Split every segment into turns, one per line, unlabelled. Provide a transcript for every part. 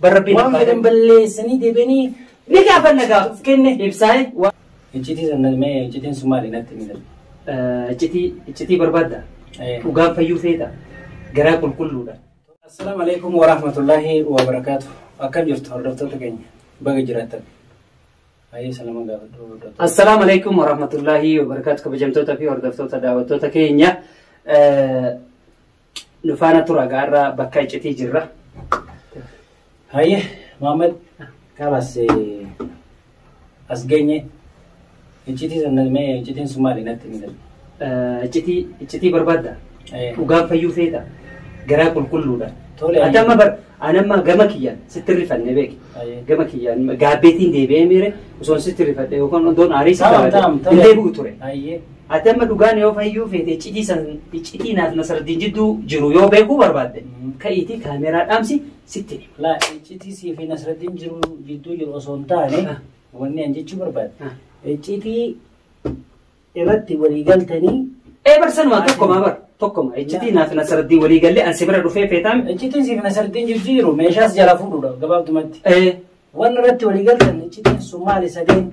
Dhugaa rabbiin Waan abbaa fedhan balleessanii deebi'anii ni gaafanna
gaaf kenne. ibsaa'e. Wa- Iccitii sana
mee iccitiin sun maali natti himi darbe. Eh, Iccitii
iccitii barbaadda. Eh. Dhugaan fayyuu feeta. Garaa qulqulluudha. Assalaamu alaikum
wa rahmatullahi wa barakaatu. Akkam jirtu hordoftoota keenya baga jiraattan. Baay'ee salama gaafadhu hordoftoota. Assalaamu alaikum
warahmatullahi wabarakaatu kabajamtoota fi hordoftoota daawwattoota keenya. Eh, Nu faana tura gaarraa bakka iccitii jirra.
Hayyee Maammed kanas as geenye iccitii sana mee iccitiin sun maali natti hin galu. Iccitii
iccitii barbaadda. Dhugaan fayyuu feeta. Garaa qulqulluudha. Tole. Ati amma bar ani amma gama kiyyaan sitti rifanne beeki. Hayyee. Gama kiyyaan gaabbeetiin deebi'ee miire osoo sitti rifadhe yookaan odoon aarii sitti Taam taam hin deebi'u
ture.
Hayyee. Ati amma
dhugaan yoo
fayyuu feete iccitii san iccitii naaf nasardiin jidduu jiru yoo beekuu barbaadde ka'iitii kaameeraa dhaamsi sitti hima. Laa iccitii
sii fi nasardiin jiru jidduu jiru osoo hin taane wanni an jechuu barbaade. Iccitii irratti walii galtanii Ee barsanuma
tokkoma bar tokkoma iccitii naaf nasardiin walii gallee an si bira dhufee feetaan. iccitiin sii fi nasardiin
jidduu jiru meeshaas jala fuudhuudha gabaabdumatti. Ee Wanni irratti walii galtan iccitiin sun maali sadeen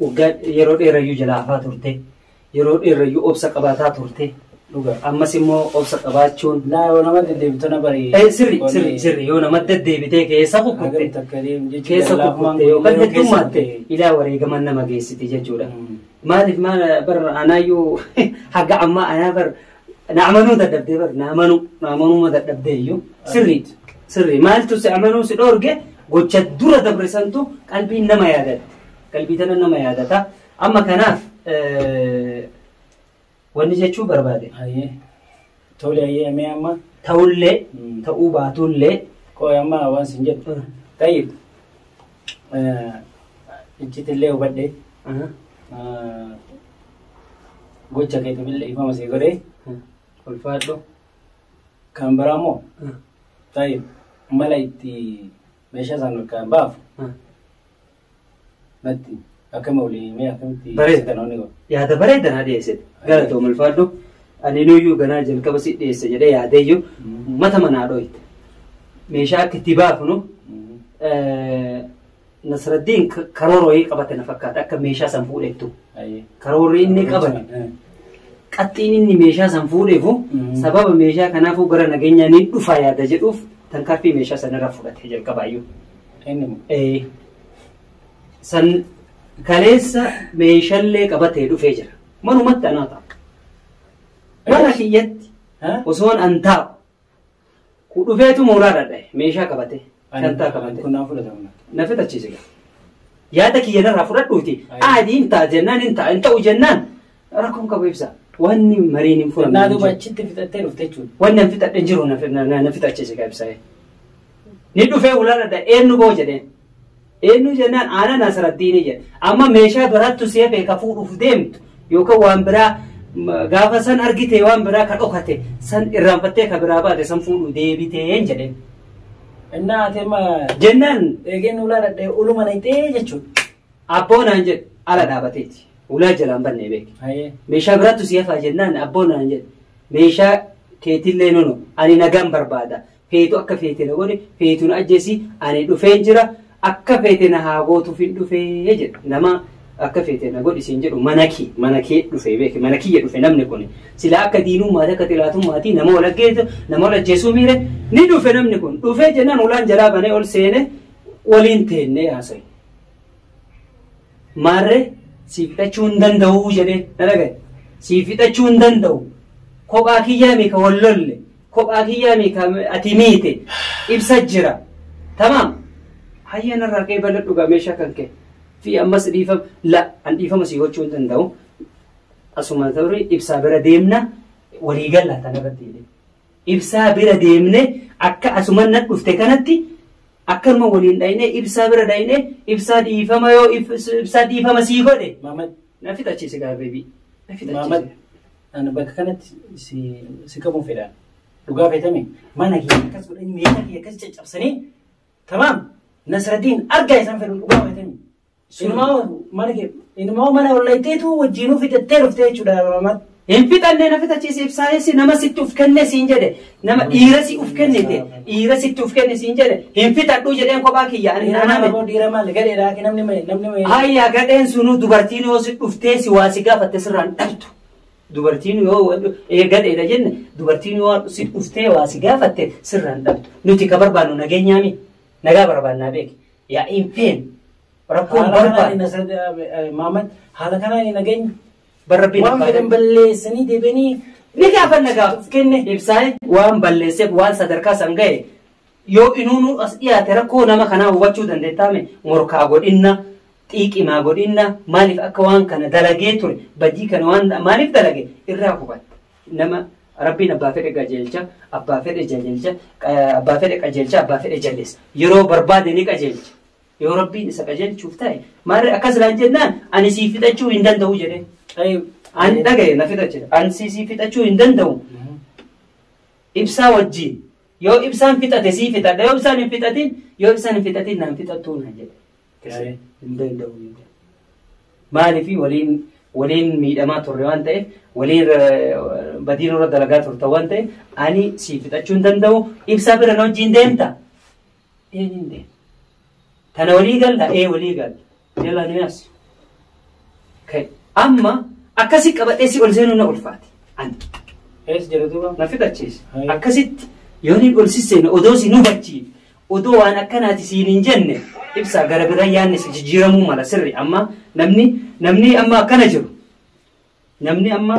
Waggaa yeroo dheerayyuu jala hafaa turte. Yeroo dheerayyuu obsa qabaataa turte. Dhugaa. Ammas immoo obsa qabaachuun. Laa yoo nama deddeebitu
na bari. Eh, Sirri sirri sirri
yoo nama deddeebitee keessa Hagam kukkutte. takka deemu jechuudha. Keessa Laa kukkute waan yookaan guddoo heddummaatte keessatti. ilaa wareegaman nama geessiti jechuudha. Mm. Maaliif maal bar anaayyuu haga ammaa anaa bar na amanuu dadhabdee bar na amanuu na amanuuma dadhabdee iyyuu sirriidha sirrii maaltu si amanuu si dhoorge gocha dura dabre santu qalbiin nama yaadatte qalbii tana nama yaadata amma kanaaf eh, wanni jechuu barbaade Hayyee.
Tole hayyee mee amma ta'ullee Mm.
ta'uu baatullee qoy amma
waan sin jedhu. Tayyib. Iccitillee hubadhe. Gocha keetifillee ifama sii godhe. Ulfaadhu. Kan biraa immoo taa'e mala itti meeshaa sana kan baafu natti. Akkam olii mee akkamitti Bareeda. seetanoonni godhu?
Yaada bareeda naa dhiyeessite. Galatoom ulfaadhu. Ani iyyuu ganaa jalqaba si dhiyeessa jedhee yaadeeyyuu Mm. mata manaa dhooyte. Meeshaa akka itti baafnu Mm. eh, Nasraddiin ka- karoora wayii qabate na fakkaata akka meeshaa san fuudhettu. Ayyee. Karoorri inni qabate Eh. qaxxiin inni meeshaa san fuudheefu Mm. sababa meeshaa kanaafuu gara nageenyaa ni dhufa yaada jedhuuf tankaarfii meeshaa sanarra fudhate jalqabaayyuu. Inni moo? Eh, san kaleessa meeshallee qabatee dhufee jira. Manumatti anaa ta'a. Mana kiyyatti osoon an taa'u. Ku dhufeetu mooraa dhadhae meeshaa qabatee. Shantaa qabatee. Kun naa fudhatamna. Na
fitachiise gaa.
Yaada kiyya narraa fudhadhuuti. Aadii hin ta'a jennaan hin ta'a hin ta'u jennaan Rakkoon qabu ibsa. Wanni mariin hin furamne. Naa duuba achitti fixattee
dhufte jechuudha. Wanni an fixadhe jiru na
fi- na- na na fixachiise ka ibsa. Ni dhufee ulaan adda eenyu boo jedheen. Eenyu jennaan aanan asirrattiini jedhe. Amma meeshaa biraattu si hafee ka fuudhuuf deemtu yookaan waan biraa ma- gaafa san argite waan biraa ka dhokate san irraanfattee ka biraa baate san fuudhuu deebitee hin jedheen. Innaa
ati amma Jennaan
eegeen ulaa dhadhee
uluma nayxee jechuudha. Abboo naan
jedhe ala dhaabateeti. Ulaa jalaan bannee beeke. Hayee. Meeshaa biraattu si hafaa jennaan abboo naan jedhe. Meeshaa keetillee nunu ani nagaan barbaada. Feetu akka feete na godhi feetu na ajjeesi ani dhufeen jira akka feete na haa gootuuf hin dhufee jedhe. Nama akka feete na godhi siin jedhu mana kee mana kee dhufee beeke mana kiyya dhufe namni kun sila akka diinummaati akka xilaatummaati nama wal ajjeesu nama wal ajjeesuu miire ni dhufe namni kun dhufee jennaan ulaan jalaa banee ol seene waliin teennee haasa'e. Maarree siif fixachuu hin danda'uu jedhee na dhagaye. Siif fixachuu hin danda'u. Kophaa kiyyaa meeqa wal lolle. Kophaa kiyyaa meeqa ati miite. Ibsa jira. Tamaam. Hayyee narraa ka'ee bala dhugaa meeshaa kan ka'e. Fi ammas dhiifama la an dhiifama sii gochuu hin danda'u. Asuma ta'urii ibsaa bira deemna walii galla tanarratti jedhee. Ibsaa bira deemne akka asuman nan dhufte kanatti akkanuma waliin dhaynee ibsaa bira dhaynee ibsaa dhiifama yoo ibsaa dhiifama sii godhe Maamad. na fixachiise
gaara
beebii na Maamad. fixachiise.
Ani bakka kanatti si si qabuun fedhaan. Dhugaa feetame mana kee akkas godhanii meeshaa kee akkas caccabsanii tamaam Nasraddiin argaa isaan fedhu dhugaa feetame. Inumaa mana kee inumaa mana ollayiteetu wajjiinuu fixattee dhuftee jechuudha namatti. Hin fixannee na
fixachiise ibsaayessi nama sitti uf kenne siin jedhe nama dhiira si uf kennite dhiira sitti uf kenne siin jedhe hin fixadhuu jedheen kophaa kiyya ani hin Nama aname. aboo dhiira maali
gadheedha akka namni mayi namni mayi. Hayya gadheen
sunuu dubartiin yoo si dhuftee si waa si gaafatte sirraan dhabdu. Dubartiin yoo wa- ee gadheedha jenne dubartiin yoo si dhuftee waa si gaafatte sirraan dhabdu. Nuti ka barbaannu nageenyaami nagaa barbaannaa beeki. Yaa'iin feem rakkoon Haala kanaan barbaadu. Nasir eh, Maamad haala
kanaan hin nageenye. Bara rabbiin Waan abbaa
fedhan ta'e. balleessanii
deebi'anii Ni gaafanna
gaa. kenne. Ibsaa'e waan balleesseef waan sadarkaa san ga'e yoo inuunuu as dhiyaate rakkoo nama kanaa hubachuu dandeettaame morkaa godhinna xiiqimaa godhinna maaliif akka waan kana dalagee ture badii kana waan maaliif dalage irraa hubatta. Nama Rabbiin abbaa fedhe qajeelcha, abbaa fedhe jajeelcha, abbaa fedhe qajeelcha, abbaa fedhe jalleessa. Yeroo barbaade ni qajeelcha. Yoo Rabbiin isa qajeelchuuf ta'e maarree akkas naan jennaan ani siif fixachuu hin danda'u jedhee. Ani dhagaye na fixa jedhe. Ani siif fixachuu hin danda'u. Ibsaa wajjin yoo ibsaan fixate sii fixadha yoo ibsaan hin fixatin yoo ibsaan hin fixatin naan fixattuu naan jedhe. Kiristiyaanni hin danda'u hin jedhu. Maaliif waliin waliin miidhamaa turre waan ta'eef waliin ra- badii nurra dalagaa turta waan ta'eef ani siif fixachuu hin danda'u ibsaa bira na wajjin deemta. Ee hin deemu. Tana walii galla ee walii galla. Jalaa nu yaasi. Ka'e. Amma akkasi qabadhee si ol seenuu na ulfaate. Ani. Ees jira
duuba. na fixachiise. Hai.
Akkasitti yooniin ol sisseena odoo si nu bachiif Odoo waan akkanaati siin hin jenne ibsaa gara birra yaanni si jijjiiramuu mala sirri amma namni namni amma akkana jiru namni amma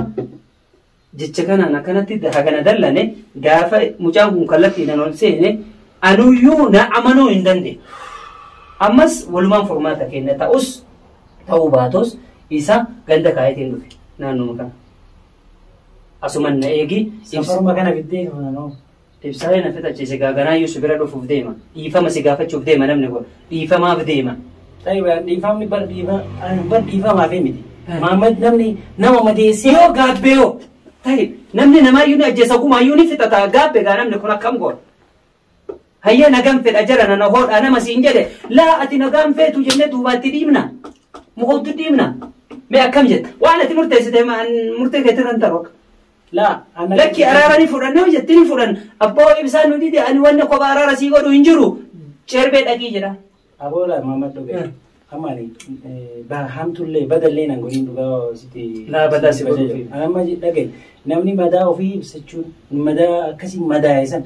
jecha kanaan akkanatti hagana dallane gaafa mucaan kun kallattiidhaan ol seene anuyyuu na amanuu hin dandeenye. Ammas walumaan furmaata kenna ta'us ta'uu baatus isa ganda kaayetiin dhufe naannoo kana. Asuman na eegi. Safaruma kana fiddee
kananoo. Ibsaayee na
fixachiise gaa ganaayyuu si bira dhufuuf deema. Dhiifama si gaafachuuf deema namni kun. Dhiifamaaf deema. Ta'i bar dhiifamni
bar dhiifa bar dhiifamaaf miti. Maammad namni nama madeessee Yoo gaabbee yoo
ta'i namni namaayyuu ni ajjeesa gumaayyuu ni fixata gaabbe gaa namni kun akkam goona. Hayyee nagaan fedha jara nana hoodhaa nama siin jedhe laa ati nagaan feetu jennee duubaatti dhiibna. Mukoottu dhiibna. Mee akkam jetta? Waan ati murteessite murtee keetirra hin taru akka. Laa. Lakki araara ni fudhanna yoo jette ni fudhanna. Abbaa wayii bisaan nu dide ani wanna kopha araara sii godhu hin jiru. Cerbee dhaqii jedha. Aboola maamad
dhugaa. Eh. Amma ani eh, ba hamtullee badallee nan godhin dhugaa sitti. Naa badaa si
godhu fi. Amma dhagaye
namni madaa ofii ibsachuun madaa akkasii madaa'e sana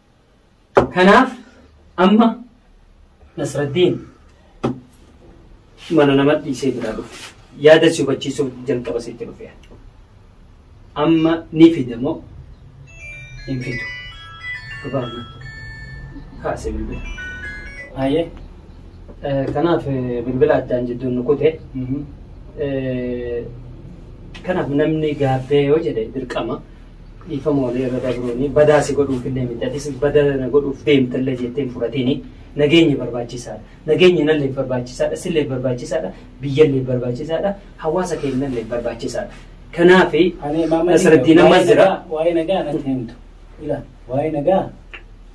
Kanaaf amma Nasraddiin mana nama dhiisee biraa dhufe. Yaada si hubachiisuuf jalqaba sitti dhufe. Amma ni fida moo hin fidu? Dhugaadha. Kaasee bilbila. Haayee. Kanaaf bilbila addaan jidduun nu kute. Kanaaf namni gaabbee yoo jedhe dirqama. dhiifamoolee irra dabruuni badaa si godhuuf illee miti atis bada na godhuuf deemtallee jettee hin fudhatiini nageenyi barbaachisaadha nageenyi nallee barbaachisaadha sillee barbaachisaadha biyyallee barbaachisaadha hawaasa keenyallee barbaachisaadha kanaaf Ani maama Nasraddiin amma waa'ee jira nagaa- Waa'ee nagaa natti
himtu. Ila waa'ee nagaa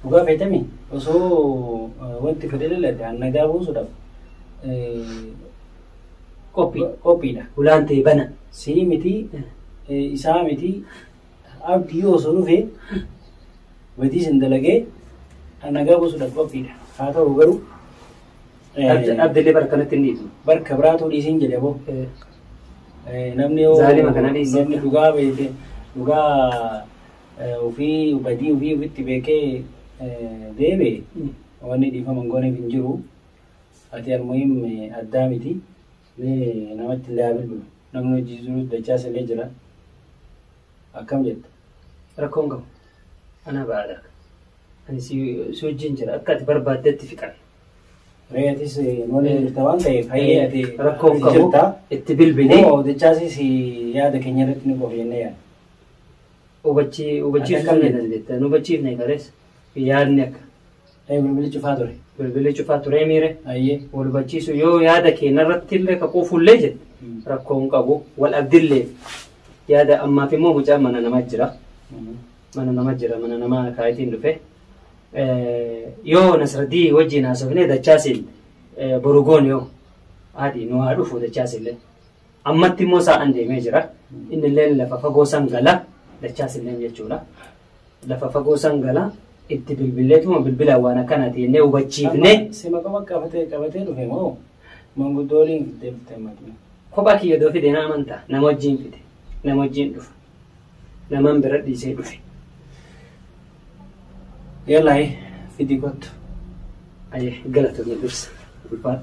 dhugaa feetami osoo eh, wanti fedhe laladde an nagaa buusuudhaaf eh, qophii qophiidha hulaan tee bana
sii miti
eh, isaa miti abdii osoo dhufe badii sin dalagee nagaa buusuudhaaf qophiidha haa ta'u garuu eh,
Abd- Abdillee bara kanatti hin dhiisu. barka biraatuu dhiisiin
jedhe boo Eh, Eh, namni yoo- Zaalima kana dhiisee. namni dhugaa beekee dhugaa eh, ofii badii ofii ofitti beekee eh, deebi'e wanni dhiifama hin gooneef hin jiru Ati almuhim addaa miti mee namatti illee haa bilbilu namni hojii jiruus dachaas illee jira akkam jetta. Rakkoo hin qabu
anaa ba'aadha ani si si wajjin jira akka ati barbaaddetti fixan. Ree atis
nu waliin jirta waan ta'eef hayyee ati Rakkoo hin ati qabu jirta.
itti bilbili Moo dachaasis
yaada keenya irratti ni qofa jennee yaadna. hubachi hubachiiftu
Akka sun akkamitti? jedhan jetta nu hubachiifne qarees yaadni akka Ee bilbilli cufaa
ture. Bilbilli cufaa turee
miire. Ayyee. Wal hubachiisu
yoo
yaada kee narratti illee ka quufullee jette rakkoo hin qabu. Wal abdillee yaada ammaaf immoo mucaan mana nama jira. Mana nama jira mana nama kaayitiin dhufe. Eh, Yoo Nasraddii wajjin haasofnee dachaasiin eh, boru goon yoo haadhi nu haa dhufu dachaasillee. Ammatti immoo saa'an deemee jira. Inni illee lafa fagoo san gala. Dachaas illee jechuudha. Lafa fagoo san gala. Itti bilbilleetuma bilbila waan akkanaati jennee hubachiifne. Sima qofa qabatee
qabatee dhufe moo manguddoo waliin fiddee dhuftee matii. Kophaa kiyya doo fide
na amantaa. Nama wajjin fide. Nama wajjin dhufa. Naman bira dhiisee dhufe.
Yalaayee fidii kottu. Ayyee
galatoomii dursa. Ulfaadha.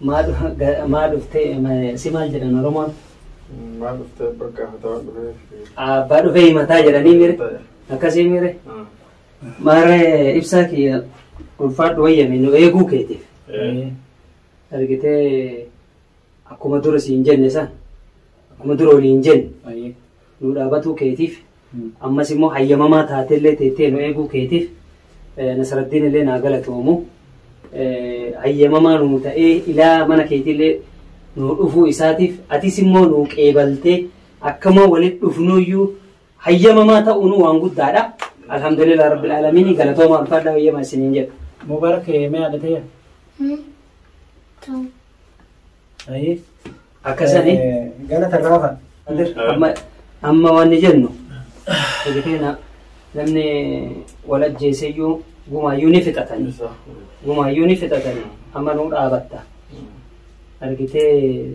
Maa dhuftee si maal jedhan Oromoon? Maa dhuftee
bakka hataa dhufee. Abbaa dhufee
himataa jedhanii mire. Akkasii mire. Maarre ibsaa kiyya ulfaadhu wayyame nu eeguu keetiif. Argitee Akkuma dura siin jenne san akkuma dura waliin jenne Ayyee. nu dhaabatuu keetiif Mm. ammas immoo hayyamamaa taatellee teettee nu eeguu keetiif eh, Nasaraddiin illee naa galatoomu Eh, hayyamamaa nu ta'ee ilaa mana keetiillee nu dhufuu isaatiif atis immoo nu qeebaltee akkamoo walitti dhufnuyyuu hayyamamaa ta'uunuu waan guddaadha. Alhamdulillah Rabbil Aalamiin galatoomaa ulfaadhaa hayyama isiniin jedha. Mubarak mee haadha
ta'e. Ayee. Akkasani
Gana
tarraafa. amma
amma waan jennu egeteena namni wal ajjeeseyyuu gumaayyuu ni fixatani. Gumaayyuu ni fixatani amma nuu dhaabatta. Argitee